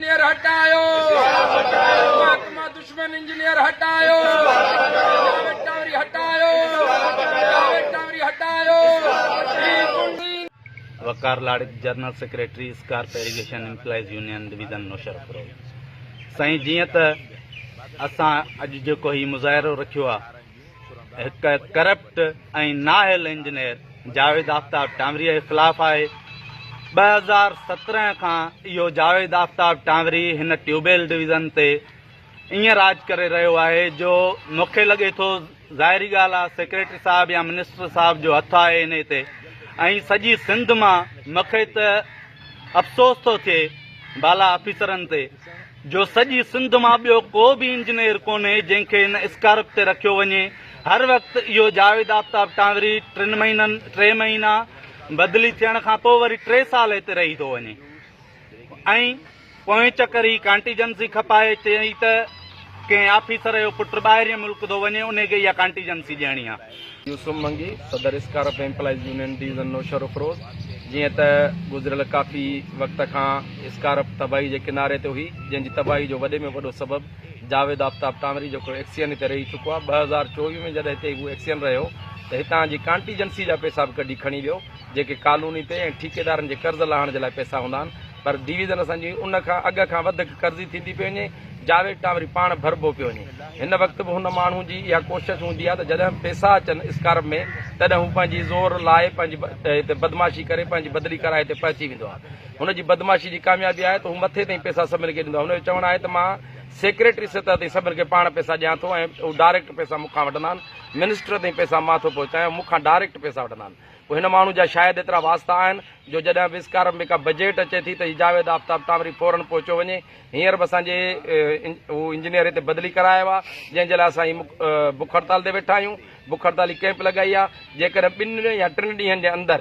Engineer هٽايو محڪمه دشمن انجنيئر هٽايو جاويد ٽاوري هٽايو جاويد ٽاوري هٽايو Waqar Larak general secretary SCARP irrigation employees union division Naushahro پرو سائين جيئن ته اسان اڄ جيڪو هي مظاهرو رکيو آ هڪ ڪرپٽ ۽ نااهل انجنيئر جاويد آفتاب ٽانوري جي خلاف آهي، ٻه هزار سترهن کان اهو جاويد آفتاب ٽانوري هن ٽيوبيل ڊويزن تي ائين راڄ ڪري رهيو آهي جو مون کي لڳي ٿو ظاهري ڳالهه آهي سيڪريٽري صاحب يا منسٽر صاحب جو هٿ آهي انهي تي ۽ سڄي سنڌ مان مون کي ته افسوس ٿو ٿئي بالا آفيسرن تي جو سڄي سنڌ مان ٻيو ڪو به انجنيئر ڪونهي جنهن کي هن اسڪارپ تي رکيو وڃي هر وقت اهو جاويد آفتاب ٽانوري ٽن مهينن ٽي مهينا بدلي ٿيڻ کان پوء وري ٽي سال هتي رهي ٿو وڃي ۽ پوئين چڪر هي ڪانٽيجنسي کپائي چئي ته ڪنهن آفيسر جو پٽ ٻاهرين ملڪ ٿو وڃي ان کي اها ڪانٽيجنسي ڏيڻي آهي يوسف منگي، صدر SCARP employees union division Naushahro Feroze, جيئن ته گذريل ڪافي وقت کان اسڪارف تباهي جي ڪناري تي هئي، جنهن جي تباهي جو وڏي ۾ وڏو سبب جاويد آفتاب ٽانوري جيڪو ايڪسين هتي رهي چڪو آهي، ٻه هزار چوويهه ۾ جڏهن هتي هو ايڪسين رهيو ته هتان جي ڪانٽيجنسي جا پئسا به ڪڍي کڻي ويو، جيڪي ڪالوني تي ۽ ٺيڪيدارن جي قرض لاهڻ جي لاء پئسا هوندا آهن. پر ڊويزن اسان جي ان کان اڳ کان وڌيڪ قرضي ٿيندي پئي وڃي، جاويد ٽان وري پاڻ ڀربو پيو وڃي. هن وقت به هن ماڻهو جي اها ڪوشش هوندي آهي ته جڏهن پئسا اچن اسڪارپ ۾ تڏهن هو پنهنجي زور لائي پنهنجي هتي بدمعاشي ڪري پنهنجي بدلي ڪرائي هتي پهچي ويندو آهي. هن جي بدمعاشي جي ڪاميابي آهي ته هو مٿي تائين پئسا سڀني کي ڏيندو آهي. هن جو چوڻ آهي ته مان سيڪريٽري سطح تائين سڀني کي پاڻ پئسا ڏيان ٿو ۽ هو ڊائريڪٽ پئسا مون کان وٺندا آهن، منسٽر تائين پئسا مان ٿو پهچايان، هو مون کان ڊائريڪٽ پئسا وٺندا آهن. پوء هن ماڻهو جا شايد ايترا واسطا آهن جو جڏهن به اسڪارف ۾ ڪا بجيٽ اچي ٿي ته هي جاويد آفتاب ٽامري فورن پهچيو وڃي. هينئر به اسان جي هو انجنيئر هتي بدلي ڪرائي آيو آهي جنهن جي لاء اسان هي بک هڙتال تي ويٺا آهيون. بک هڙتالي ڪئمپ لڳائي آهي. جيڪڏهن ٻن يا ٽن ڏينهن جي اندر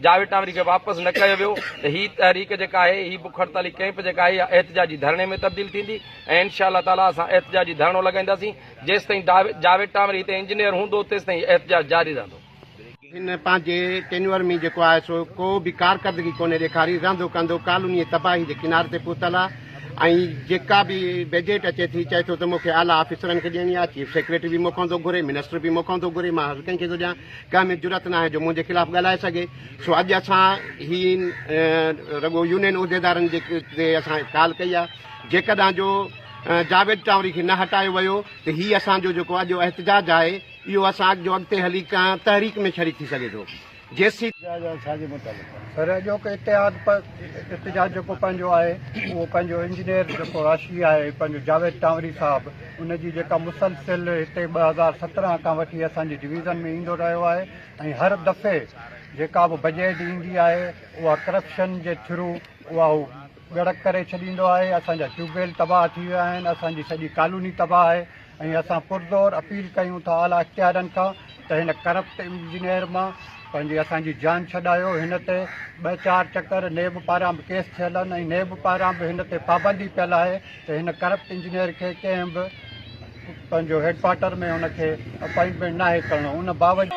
جاويد ٽامري کي واپس نه ڪيو ويو ته هي تحريڪ جيڪا آهي هي بک هڙتالي ڪئمپ جيڪا آهي اها احتجاجي ڌرڻي ۾ تبديل ٿيندي ۽ انشاء الله تعاليٰ اسان احتجاجي ڌرڻو لڳائينداسين. جيستائين جاويد ٽامري هتي انجنيئر هوندو تيستائين احتجاج جاري رهندو. هن پنهنجي ٽينيور ۾ جيڪو آهي سو ڪو به ڪارڪردگي ڪونهي ڏيکاري، رهندو ڪهندو ڪالونيء تباهي جي ڪناري تي پهتل آهي ۽ جيڪا به بجيٽ اچي ٿي چئي ٿو ته مون کي اعليٰ آفيسرن کي ڏيڻي آهي، چيف سيڪريٽري به مون کان ٿو گهري، منسٽر به مون کان ٿو گهري، مان هر ڪنهن کي ٿو ڏيان، ڪنهن ۾ جرئت ناهي جو منهنجي خلاف ڳالهائي سگهي، سو اڄ اسان هي رڳو يونين عهديدارن جي تي اسان ڪال ڪئي آهي، جيڪڏهن جو جاويد ٽاوري کي نه هٽايو ويو ته هي اسان جو جيڪو اڄ جو احتجاج آهي، اهو اسحاق جو اڳتي هلي ڪنهن تحريڪ ۾ شريڪ ٿي سگهي ٿو جيسي. پر اڄوڪي اتحاد پ ات جا جيڪو پنهنجو آهي اهو پنهنجو انجنيئر جيڪو راشي آهي پنهنجو جاويد ٽانوري صاحب ان جي جيڪا مسلسل هتي ٻه هزار سترهن کان وٺي اسان جي ڊويزن ۾ ايندو رهيو آهي ۽ هر دفعي جيڪا به بجيٽ ايندي آهي اها ڪرپشن جي ٿرو اها هو ڳڙڪ ڪري ڇڏيندو آهي اسان جا ٽيوب ويل تباهه ٿي ويا آهن اسان جي سڄي ڪالوني تباهه آهي ۽ اسان پرزور اپيل ڪيون ٿا اعليٰ اختيارين کان ته هن ڪرپٽ انجنيئر مان پنهنجي اسان جي جان ڇڏايو، هن تي ٻه چار چڪر نيب پاران به ڪيس ٿيل آهن ۽ نيب پاران به هن تي پابندي پيل آهي ته هن ڪرپٽ انجنيئر کي ڪنهن به پنهنجو هيڊڪوارٽر ۾ ان کي اپائنٽمينٽ ناهي ڪرڻو ان باوجود